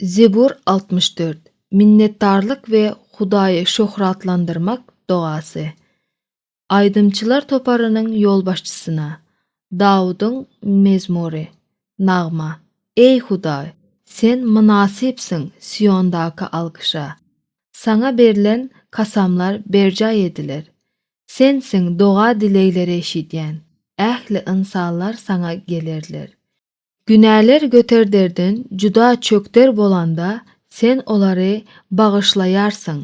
Zebur altmyş dört Minnetdarlyk we Hudaýy şöhratlandyrmak dogasy Aýdymçylar toparynyň ýolbaşçysyna Dawudyň mezmury Nagma Eý, Hudaý, Sen mynasypsyň Siondaky alkyşa, Saňa berlen kasamlar berjaý ediler. Sensiň doga-dilegleri eşidýän, ähli ynsanlar Saňa gelerler. Günäler göterderden juda çökder bolanda Sen olary bagyşlaýarsyň.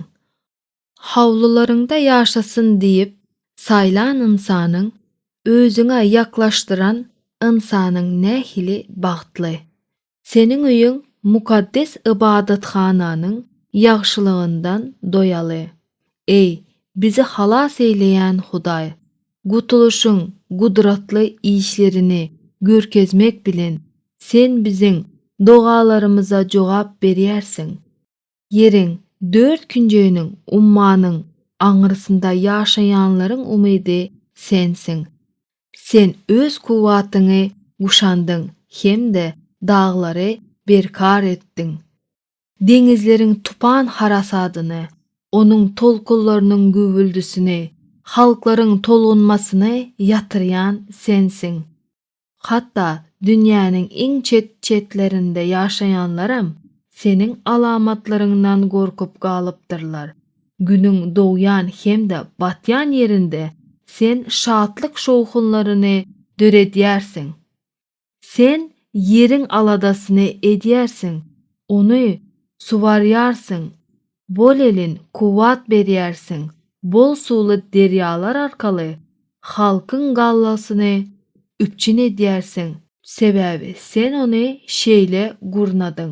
Howlularyňda ýaşasyn diýip saýlan ynsanyň, Özüňe ýaklaşdyran ynsanyň nähili bagtly! Seniň öýüň mukaddes ybadathananyň ýagşylygyndan doýaly. Eý, bizi halas eýleýän Hudaý! Gutulyşyň gudratly işlerini görkezmek bilen, Sen biziň dogalarymyza jogap berýärsiň. Ýeriň dört künjeginiň, ummanyň aňrysynda ýaşaýanlaryň umydy Sensiň. Sen Öz kuwwatyňy guşandyň hem-de daglary berkar etdiň. Deňizleriň tupan harasadyny, onuň tolkunlarynyň güwwüldisini, halklaryň tolgunmasyny ýatyrýan sensiň. Hatda dünýäniň iň çet-çetlerinde ýaşaýanlaram seniň alamatlaryňdan gorkup galypdyrlar. Günüň dogýan hem-de batýan ýerinde sen şatlyk şowhunlaryny döredýärsiň. Sen ýeriň aladasyny edýärsiň, ony suwarýarsyň, bolelin kuwwat berýärsiň, bol suwly derýalar arkaly halkyň gallasyny üpjün edýärsiň, sebäbi sen ony şeýle gurnadyň,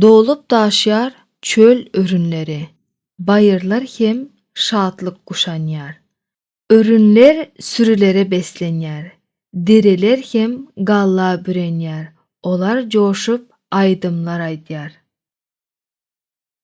Dolup-daşýar çöl örünleri, baýyrlar hem şatlyk guşanýar. Örünler sürülere beslenýär, dereler hem galla bürenýär, olar joşup aýdymlar aýdýar.